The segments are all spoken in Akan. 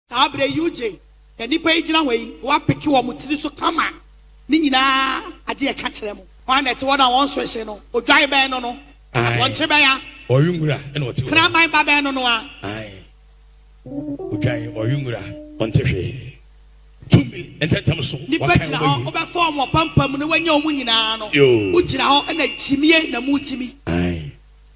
Saa berɛ yi wogye deɛ nnipa yi gyina hɔ yi na wɔapeke wɔn tiri so kama, ne nyinaa agye ɛka kyerɛ mu. Hwan na ɛte hɔ na wɔn so hye no? Odwan bɛn no no? Wɔn kye bɛn a? Ɔwe nwura na ɔte hɔ. Kraman ba bɛn no no a? Ae, odwan, ɔwe nwura, ɔnte hwee. Tumi ntɛmntɛm so wakan wɔn awie. Nnipa gyina hɔ, wobɛfa wɔn apampam na woanya wɔn nyinaa no. Wogyina hɔ na gyimie na mogyimi. Ae.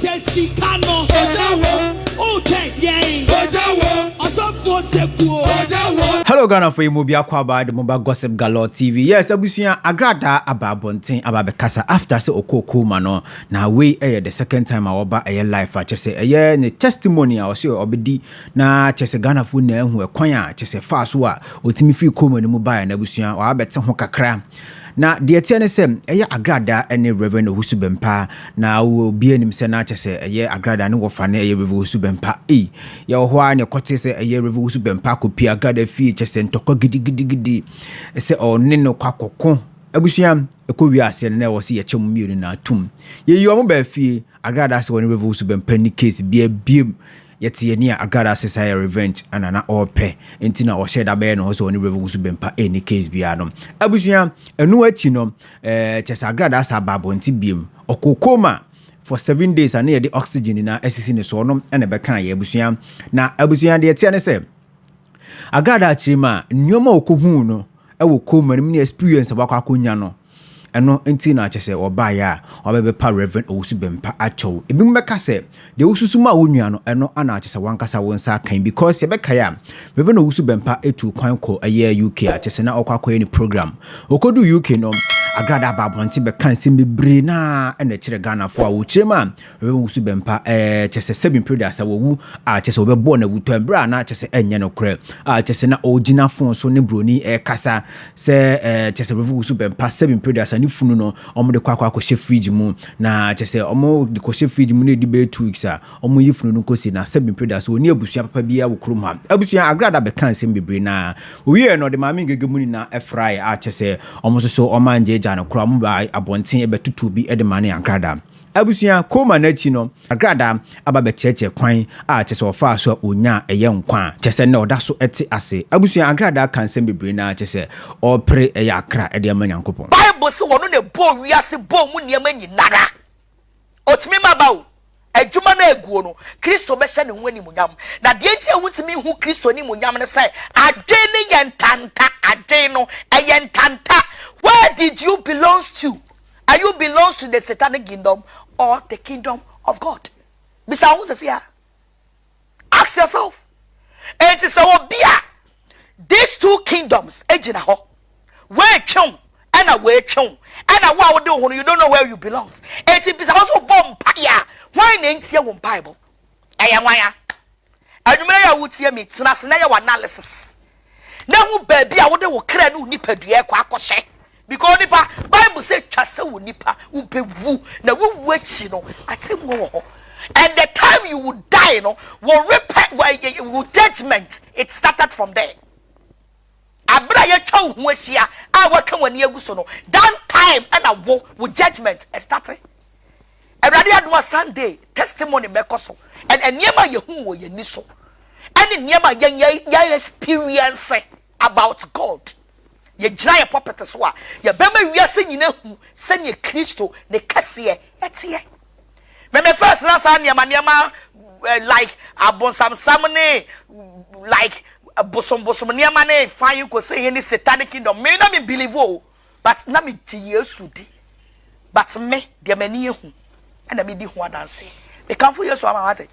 Kyɛ sika no. Ogya wom. Wohwɛ yɛn. Ogya wom. Ɔsɔfoɔ sɛkuo. Ogya wom. Hello Ghanafo yi mu biako abaa de mo ba Gossip Galore TV. Yes, abusua Agradaa aba abɔnten aba abɛkasa after sɛ ɔkɔɔ Kooma no. Na wei yɛ the second time a ɔba ɛyɛ life a kyɛ sɛ ɛyɛ ne testimony a ɔse ɔbɛdi na kyɛ sɛ Ghanafo nyinaa ahu ɛkwan a kyɛ sɛ faa so a ɔtumi firi Kooma no mu baeɛ no abusua. Wabɛte ho kakra. Na deɛ ɛteɛ ne sɛ, ɛyɛ agradaa ɛne Rev. Owusu Bɛmpa, na obiara nim sɛ na kyɛ sɛ ɛyɛ agradaa ne wɔfa ne ɛyɛ Rev. Owusu Bɛmpa. Ei! Yɛwɔ hɔ ara na yɛkɔtee sɛ ɛyɛ Rev. Owusu Bɛmpa akɔpie agradaa fie, kyɛ sɛ ntɔkwa gidigidigidi sɛ ɔne no kɔ akɔko. Abusua, ɛkɔ wie aseɛ no na ɛwɔ sɛ yɛkyɛ wɔn mmienu no ara tom. Yɛyii wɔn baa fie, agradaa sɛ wɔne Rev. Owusu Bɛmpa nni case biara biom. Yɛte yɛn ani a Agada se saa yɛ revenge na na ɔrepɛ nti na ɔhyɛɛ da bɛyɛ ne ho sɛ ɔne Rev Owusu bempa ɛnni case biara no. Abusua, ɛno akyi no eh, kyerɛ sɛ Agada saa ba abɔnten biem. Ɔkɔɔ coma for seven days a na yɛde oxygen nyinaa asisi ne so, ɔno na ɛbɛkaa yɛ abusua. Na abusua deɛ ɛteɛ ne sɛ, Agada akyire mu a, nneɛma a ɔkɔhuu no wɔ coma no mu ne experience a wakɔ akɔnya no, Ɛno nti na kyerɛ sɛ wɔbaeɛ a, wɔabɛbɛpa Rev. Owusu-Bempah akyɛw. Ebinom bɛka sɛ, deɛ wosusu maa wo nua no, ɛno na kyerɛ sɛ w'ankasa wo nsa aka yi. Because yɛbɛkae a, Rev. Owusu-Bempah tuu kwan kɔ ɛyɛ UK a kyerɛ sɛ na ɔrekɔ akɔyɛ ne program. Ɔkɔduu UK no, Agrada baa abɔnten bɛkaa nsɛm bebree no ara na ɛkyerɛ Ghanafoɔ a wɔkyerɛm a Rebɛba mu so bɛmpa, ɛɛ, kyerɛ sɛ, sɛbi mprɛ duasa wawu, a, kyerɛ sɛ wɔbɛbɔɔ no awutɔɛ mprɛ a na kyerɛ sɛ ɛnyɛ nokorɛ, a, kyerɛ sɛ na ɔɔgyina fon so ne broni ɛɛkasa, sɛ, ɛɛ, kyerɛ sɛ Rebɛba so bɛmpa, sɛbi mprɛ duasa ne funu no wɔn de kɔ akɔ akɔ hyɛ fridge mu, na kyerɛ sɛ wɔn de kɔ hyɛ fridge mu na ɛdi bɛyɛ two weeks a wɔn yi funu no nkosi, na sɛbi mprɛ duasa ɔnni abusua papa biara wɔ kurom ha. Abusua, Agrada bɛkaa nsɛm bebree na ɔwieɛ no ɔde Maame Ngege mu nyinaa ɛfraeɛ, a, kyerɛ sɛ wɔn nso so wɔn angyagya no koraa, wɔn baa abɔnten bɛtotoo bi de maa no yɛ Agrada. Abusua ko ma no akyi no, Agrada aba bɛkyerɛkyerɛ kwan a kyerɛ sɛ ɔfaa so a onyaa ɛyɛ nkwa a kyerɛ sɛ nnɛ ɔda so te ase. Abusua Agrada ka nsɛm bebree no ara kyerɛ sɛ ɔrepere ɛyɛ akra de ama Nyankopɔn. Bible se ɔno na ɛbɔɔ wiase bɔɔ mu nneɛma nyinara. Ɔtumi ma ba o, adwuma no a ɛguo no, Kristo bɛhyɛ ne ho animuonyam. Na deɛ nti a wontumi nhu Kristo animuonyam ne sɛ adwene no yɛ ntanta, adwene no ɛyɛ ntanta, where did you belongs to? Are you belongs to the satanic kingdom or the kingdom of God? Bisa ho sɛ sia. Ask yourself. Enti sɛ obi a these two kingdoms egyina hɔ. Wɔatwew ɛna wɔatwew ɛna wo a wode wo ho no you don't know where you belongs. Enti bisa ho sɛ ɔbɔ mpaeɛ a hwan na ɛntie wo mpaebɔ? Ɛyɛ nwan a? Anwummerɛ yi a woretie me yi, tena ase na yɛ w'analysis na hu baabi a wode wo kra ne wo nipadua rekɔ akɔhyɛ. Because nipa, Bible sɛ twa sɛ wo nipa, wobɛwu, na wowu akyi no, atemmuo wɔ hɔ. And the time you will die no, wo repent, wo judgment, it started from there. Bere a yɛatwa wo ho ahyia a woaka w'ani agu so no, that time na wo wo judgement starte. Awurade adom a Sunday testimony bɛkɔ so and nneɛma a yɛhu wɔ yɛn ani so ɛne nneɛma a yɛn yɛ experience about God. Yɛgyina yɛ pulpit so a yɛbɛma wiase nyina hu sɛdeɛ Kristo ne kɛseɛ teɛ. Me me first na saa nneɛma nneɛma eh, like abonsamsam ne like bosombosom nneɛma ne fan kose he ne satanic kingdom me na me believe o but na me gye yesu di but me deɛ m'ani ehu ɛna me di ho adanse mekamfo yesu ama wate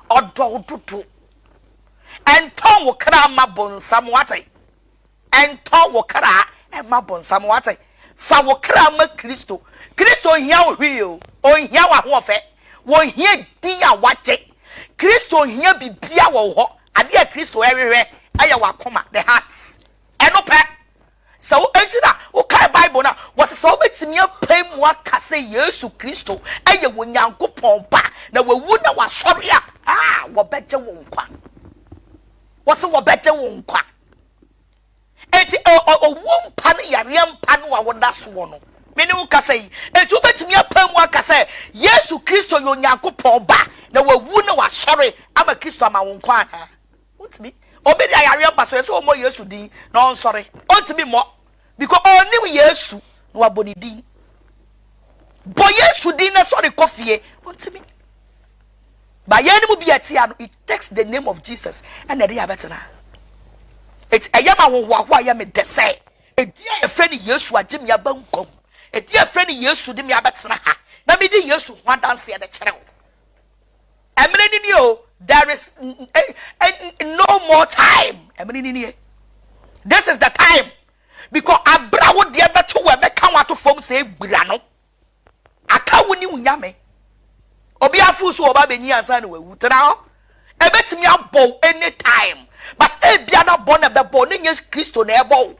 ɔdɔ wo dodo ɛntɔn wo kra ma bonsam wate Ntɔ wo kra mma bonsam, wate? Fa wo kra ma Kristo. Kristo nhia wo hwee o. Onhia w'ahoɔfɛ. Onhia din a w'agye. Kristo nhia biribiara wɔ wo hɔ. Adeɛ a Kristo rehwehwɛ yɛ w'akoma, the heart. Ɛno pɛ. Sɛ wo, enti na wo kae Bible no a, wɔse sɛ wobɛtumi apae mu aka sɛ Yesu Kristo yɛ Onyankopɔn Ba na wawu na wasɔre a, ah, wɔbɛgye wo nkwa. Wɔse wɔbɛgye wo nkwa. Enti ɛ, ɔ, owuo mpa ne yareɛ mpa no a woda so wɔ no. Me ne wo kasa yi. Enti wobɛtumi apae mu aka sɛ Yesu Kristo yɛ Onyankopɔn Ba, na Wawu na Wasɔre ama Kristo ama wo nkwa anaa? Wontumi. Obi de ayareɛ mpa so, ɛsɛ sɛ ɔmmɔ Yesu din na ɔnsɔre. Ɔntumi mmɔ. Because ɔnim Yesu na wabɔ ne din. Bɔ Yesu din na sɔre kɔ fie. Ontimi. Ba yɛn mu bi a ɛte a no, it takes the name of Jesus ɛna ɛde yɛ abɛtena. Eti ɛyɛ ma ahohoahoa yɛ me dɛ sɛ edi a yɛfrɛ no Yesu agye me aba nkwa mu. Edi a yɛfrɛ no Yesu de me abɛtena ha na medi Yesu ho adanseɛ de kyerɛ wo. Ɛmene no nie o, there is no more time, ɛmene no nie, this is the time, because abra wo deɛ bɛto wɔ ɛbɛka wo ato fam sɛ gbira no, aka wo ne wo nyame, obi afo so ɔba bɛnyi ansa na wawu, tena hɔ, ɛbɛtumi abɔ wo anytime, but ebia na bɔ na bɛbɔ ne nyɛ kristo na ɛbɔ wo,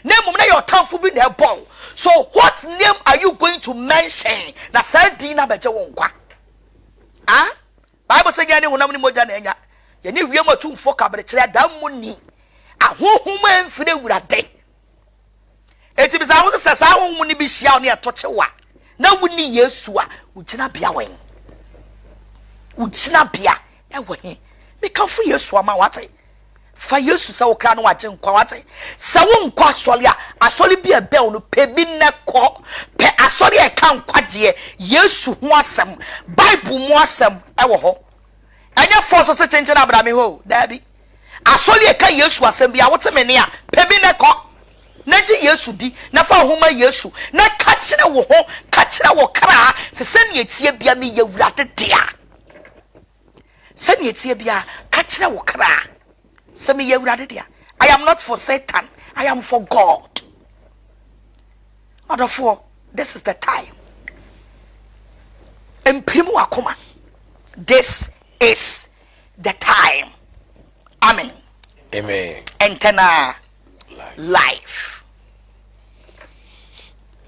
na mmom na yɛ ɔtamfo bi na ɛbɔ wo, so what name are you going to mention na saa din na bɛgye wo nkwa? A Bible sɛ nyɛ ne honam ne mogya na anya, yɛne wiem atumfoɔ kaberekyerɛ adammɔni ahonhom a ɛmfiri awurade. Enti bisa ho sɛ saa ahonhom no bi hyia wo ne ɛto kyew a, na wonni Yesu a, wogyina bea wɔ he? Wogyina bea ɛwɔ he? Mekamfo Yesu ama wate. Fa Yesu sɛ wo kra ne w'agyenkwa, wate? Sɛ wonkɔ asɔre a, asɔre bi a ɛbɛn wo no, pɛ bi na kɔ. Pɛ asɔre a ɛka nkwagyeɛ, Yesu ho asɛm, Bible mu asɛm wɔ hɔ. Ɛnyɛ fɔ so se kyenkyen abra me hɔ o, daabi. Asɔre a ɛka Yesu asɛm bi a wote me nne a, pɛ bi na kɔ. Na gye Yesu di, na fa wo ho ma Yesu, na ka kyerɛ wo ho, ka kyerɛ wo kra se sɛnea ɛteɛ bia meyɛ Awurade dea. Sɛnea ɛteɛ biara, ka kyerɛ wo kra sɛ, Meyɛ Awurade dea. I am not for Satan, I am for God. Ɔdɔfoɔ, this is the time. Mpirim w'akoma. This is the time. Amen. Amen. Ɛntɛnaa. life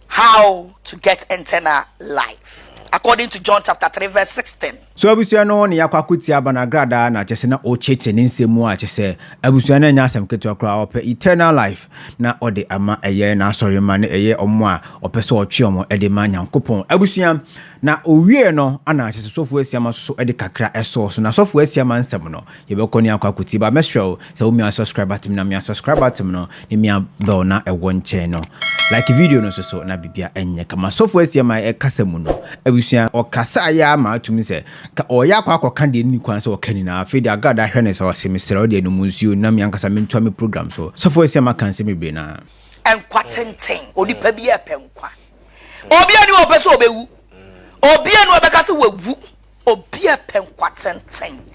how to get internal life according to john chapter three verse sixteen. so abusua no ne yakɔ akotia banagradaa na kyɛ sɛ na ɔkyekyɛ ne nsɛm mu a kyɛ sɛ abusua no nyɛ asɛm ketewa koraa ɔpɛ eternal life na ɔde ama ɛyɛ n'asɔre ma ne ɛyɛ ɔmo a ɔpɛ sɛ ɔtwe ɔmo ɛde ma nyankopɔn abusua na owie no ana kyɛ sɛ sɔfo asiama soso ɛde kakra ɛsɔɔ so na sɔfo asiama nsɛm no Yɛbɛkɔ ne akɔ akotie ba mɛsrɛ wo sɛ wo mia subscribe button na mia subscribe button no ne mia bell na ɛwɔ nkyɛn no like video no soso na bibia ɛnyɛ kama sɔfo asia ma ɛkasa mu no abusua ɔkasa ayɛ ama atum sɛ ka ɔyɛ akɔ akɔ ka deɛ ne kwan sɛ ɔka nyinaa afei deɛ agada ahwɛ ne sɛ ɔse mesrɛ wo deɛ no mu nsuo na mia nkasa mentua me program so sɔfo asia ma ka nsɛm bebree na nkwa tenten onipa bi ɛpɛ nkwa obi ani ɔpɛ sɛ ɔbɛwu obi ani ɔbɛka sɛ wawu Obi a ɔpɛ nkwa tenten.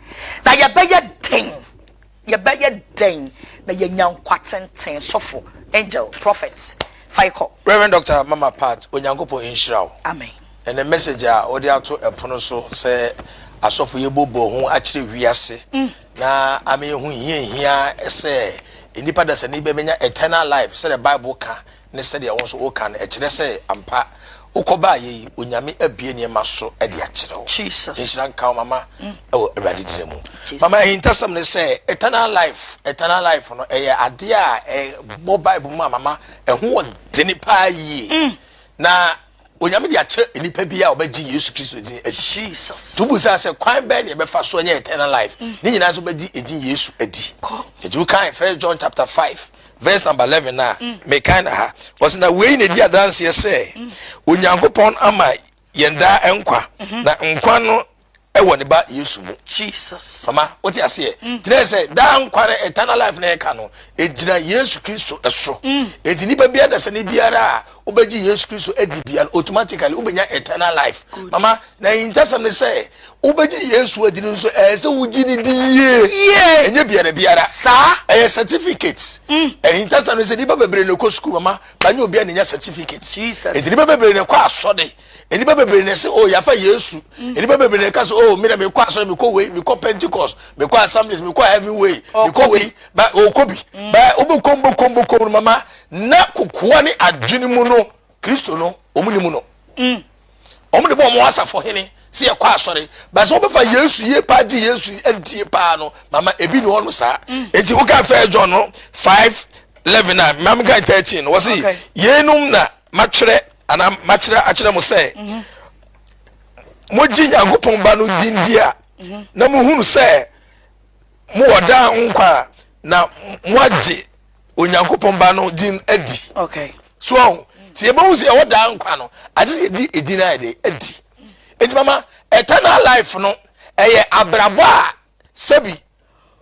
Na yɛbɛyɛ dɛn? Yɛbɛyɛ dɛn na yɛanya nkwa tenten? Sɔfo, Angel, Prophet, fa yi kɔ. Rev. Doctor Mama Pat, Onyankopɔn nhyira wo. Amen. Ɛnɛ message a wode ato ɛpono so sɛ asɔfo yɛbobɔ ho akyerɛ wiase na ama yɛahu hia hia sɛ nnipa dasani bɛbɛnya eternal life sɛdeɛ Bible ka ne sɛdeɛ wo nso woka no ɛkyerɛ sɛ ampa wokɔ baayɛ yi onyame abie nneɛma so de akyerɛ wo nhyira nka wo mama ɛwɔ awurade dina mu mama ahintasɛm ne sɛ eternal life eternal life no ɛyɛ adeɛ a ɛbɔ bible mu a mama ɛho wɔ dene paa yie mm. na Onyame de akyɛ nipa bi a ɔbɛgye Yesu Kristo din adi. To bu saa sɛ kwan bɛn na yɛbɛfa so anya eternal life? Mm. Ne nyinaa nso bɛgye edin Yesu adi. Eti wokan First John chapter five verse number eleven a mm. mekan na ha wɔsi na wei na edi adanseɛ sɛ mm. Onyankopɔn ama yɛn daa nkwa mm-hmm. na nkwa no ɛwɔ ne ba yesu mu jesus mama wote aseɛ mm. kyerɛ sɛ daa nkwa no eternal life na ɛka no egyina yesu kristo ɛso mm. eti nipa biara da sɛ ne biara a wobɛgye yesu kristo adi biara automatically wobɛnya eternal life mama na ntasɛm ne sɛ wobɛgye yesu adi no nso ɛyɛ sɛ wogye ne di yie ɛnyɛ biara biara saa ɛyɛ certificate mm. ɛyɛ ntasɛm ne sɛ nipa bebree na ɛkɔ sukuu mama banyɛ obiara na nya certificate eti nipa bebree na ɛkɔ asɔde Nnipa bebree na ɛse, Oh, yɛafa Yesu. Mm. Nnipa bebree na ɛka sɛ, Oh, meda mekɔ asɔre, mekɔ wei, mekɔ Pentecost, mekɔ Assemblies, mekɔ Heaven Way, mekɔ wei, ba ɔkɔ bi. Mm. Ba wobɛkɔm bɔkɔm bɔkɔm no mama, na kokoa ne adwene mu no, Kristo no, wɔn ni mu no. Mm. Wɔn de bɔ wɔn asafo hene sɛ yɛkɔ asɔre. Ba sɛ wobɛfa Yesu yie paa gye Yesu adie paa no, mama ebi ne ɔno saa. Mm. Enti woka fɛ John no 5 11 a, mamka 13 no, wɔse, yeinom na matwerɛ anaa makyerɛ akyerɛ mo sɛ mhm. mogye nyankopɔn ba no din di a mhm. na mohunu sɛ mowɔ daa ho nkwa a na moagye onyankopɔn ba no din adi so ɔho nti yɛbɛhu sɛ yɛwɔ daa nkwa no agye sɛ yɛdi ɛdin a yɛde adi nti mama eternal life no ɛyɛ abrabɔ a sɛbi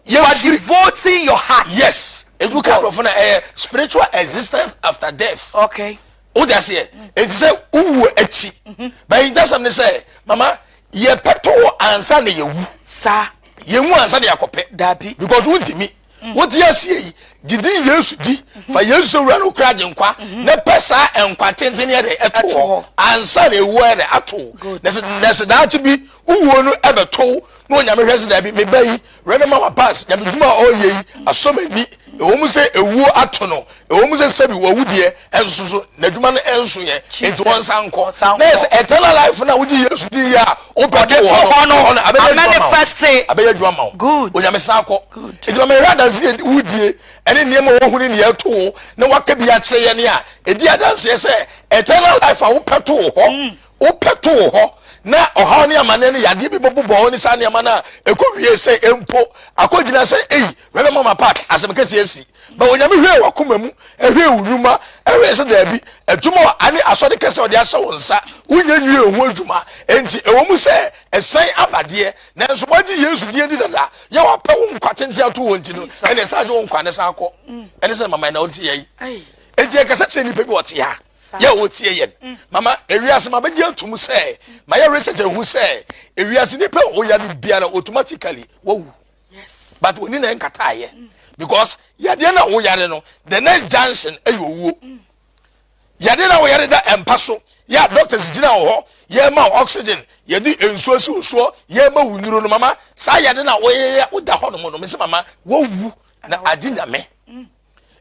You are devoting your heart. Yes. If you come from a spiritual existence after death. Okay. O de aseɛ. Eti sɛ uwu akyi. But in that something say, mama, yɛ pɛtɔ wɔ ansa na yɛ wu. Sa. Yɛ wu ansa na yɛ akɔpɛ. Dabi. Because wo ntumi. Mm. Wo di aseɛ yi. Didi Yesu di. Mm-hmm. Fa Yesu sɛ wura no kura agye nkwa. Mm-hmm. Na pɛ saa nkwa tenten yɛ dɛ ɛto hɔ. Ansa na ewu yɛ dɛ ato. Good. Na sɛ daakye bi. Wowuo no ɛbɛto wo na onyame hwɛ se daabi meba yi rene ma wabas nyame dwuma a ɔreyɛ yi asɔ m'ani ɛwɔ mu sɛ ewuo ato no ɛwɔ mu sɛ sɛbi wawu deɛ ɛnso so n'adwuma no ɛnso yɛ enti ɔnsa nkɔ na yɛ sɛ eternal life no a wogye Yesu din yɛ a wopɛde wɔ hɔ no hɔ no abɛyɛ adwuma ma wo abɛyɛ adwuma ma wo onyame san kɔ enti ma mehwɛ adanse deɛ wodie ɛne nneɛma a wɔhu ne deɛ ɛto wo na waka bi akyerɛ yɛ ne a ɛdi adanseɛ sɛ eternal life a wopɛ to wo hɔ wopɛ to wo hɔ na ɔhaw ne amanneɛ no yadeɛ bi bɛbobɔ wo ne saa nneɛma no a ɛkɔ wie sɛ mpo akɔgyina sɛ ei wɛrɛ mama park asɛm kɛseɛ asi bɛ onyame hwee wakoma mu ɛhwee wo nnwuma ɛhwee sɛ daabi adwuma wɔ ane asɔre kɛsɛ ɔde ahyɛ wo nsa wonyɛ nwie ho adwuma enti ɛwɔ mu sɛ ɛsan abadeɛ nanso wagye yesu deɛ di dada yɛ wapɛ wo nkwa tenten ato wɔ nti no ɛne ɛsan gye wo nkwa ne san akɔ ɛne sɛ mama ɛna ɔte yɛi enti yɛkasa kyerɛ nnipa bi wɔte ha yɛ wɔtie yɛn mm. mama ewiase ma bɛgye atum sɛ ma yɛ research ahu sɛ ewiase nipa ɔya ne biara automatically wawu but wɔni na nkataayɛ mm. because yadeɛ na woyare no the next junction ɛyɛ owuo mm. yadeɛ na woyare da mpa so yɛ doctors gyina wɔ hɔ yɛma oxygen yɛde nsuo si osuo yɛma wo nuro no mama saa yɛde na woyɛ woda hɔ nom no mese mama wowu na agye nyame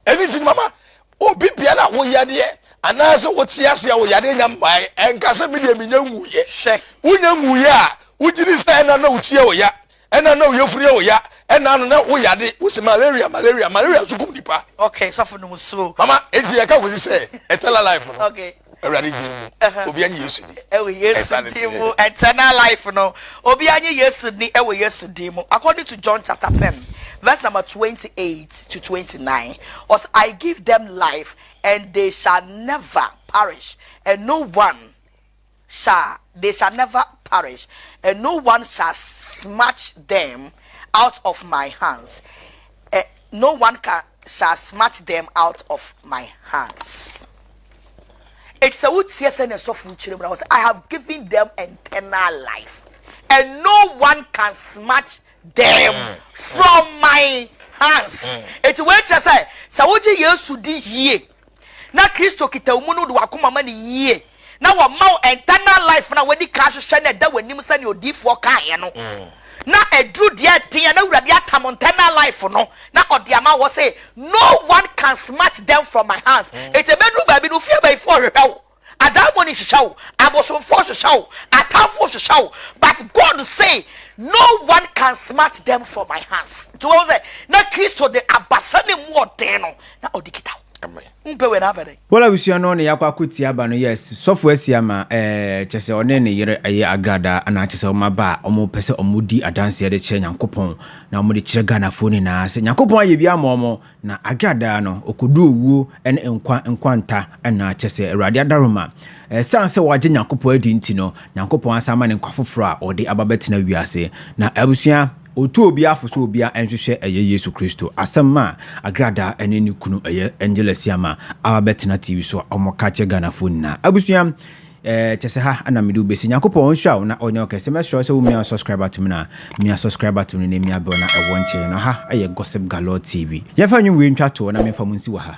ɛno nti no mama obi biara a woyadeɛ anaasɛ wote ase a woyadeɛ nya mmae ɛnka sɛ medeɛ menya nwuyɛ hwɛ wonya nwuyɛ a wogyiri sɛ ɛna na wotia oya ɛna na woyɛfiri oya ɛna no na woyade wosi malaria malaria malaria nso kum nipa okay sɔfo no mu suro mama enti yɛka kɔsi sɛ eternal life no okay Awurade din mu, obi anye Yesu di. Ɛwɔ Yesu din mu, eternal life no, obi anye Yesu ni ɛwɔ Yesu din mu. According to John chapter ten, verse number twenty-eight to twenty-nine, ɔsɛ I give them life and they shall never perish and no one shall they shall never perish and no one shall snatch them out of my hands. Eh, no one ka shall smart them out of my hands Enti sɛ woteɛ sɛ ne sɔfo kyerɛ mu na wɔ sɛ I have given them eternal life and no one can smart them mm. from my hands Enti wei kyerɛ sɛ sɛ wogye Yesu di yie na Kristo kita wo mu no, wode w'akoma ma no yie, na wɔma wo internal life no a wadi kan ahwehwɛ no ɛda w'anim sɛnea odiifoɔ kaeɛ no, na ɛduru deɛ ɛden a na Awurade atam internal life no, na ɔde ama wɔ se, No one can snatch them from my hands. Enti ɛbɛduru baabi no, ofie abayifoɔ rehwehwɛ wo. Adaemone hwehwɛ wo, abosomfoɔ hwehwɛ wo, atamfoɔ hwehwɛ wo, but God say no one can smart them from my hands. Nti wɔn sɛ na Kristo de abasa ne mu ɔden no na ɔde kita wo. Wompɛ wei na afɛ dɛn? Paul abusua no ne yakɔ ako tia ba no yes sɔfo asia ma ɛɛ kyɛsɛ ɔne ne yere ɛyɛ agradaa anaa kyɛsɛ ɔmo aba a ɔmo pɛsɛ ɔmo di adanseɛ de kyerɛ nyankopɔn na ɔmo de kyerɛ Ghana foɔ nyinaa sɛ nyankopɔn ayɛ bi ama ɔmo Na adwera daa no, ɔkɔduu owuo ne nkwa nkwanta nna, kyerɛ sɛ, Awurade adaworoma. Ɛsiane sɛ wagye Nyankopɔn adi nti no, Nyankopɔn asan ama no nkwa foforɔ a ɔde aba bɛtena wiase. Na abusua, ɔtu obiara fo sɛ obiara nhwehwɛ ɛyɛ Yesu Kristo asɛm a adwera daa ne ne kunu ɛyɛ Angel Asiamah aba bɛtena TV so a wɔka akyerɛ Ghanafoɔ nyinaa. Abusua, Eh kyɛsɛ ha na mede wo bɛsi. Nyankopɔn ɔnhyira wo na ɔnyɛ wo kɛse. Mɛsrɛ wo sɛ wo mia subscribe button no a, mia subscribe button no na mia bell na ɛwɔ nkyɛn no. Ha yɛ Gossip Galore TV. Yɛmfa nnwom wei ntwa toɔ na memfa mo nsi wɔ ha.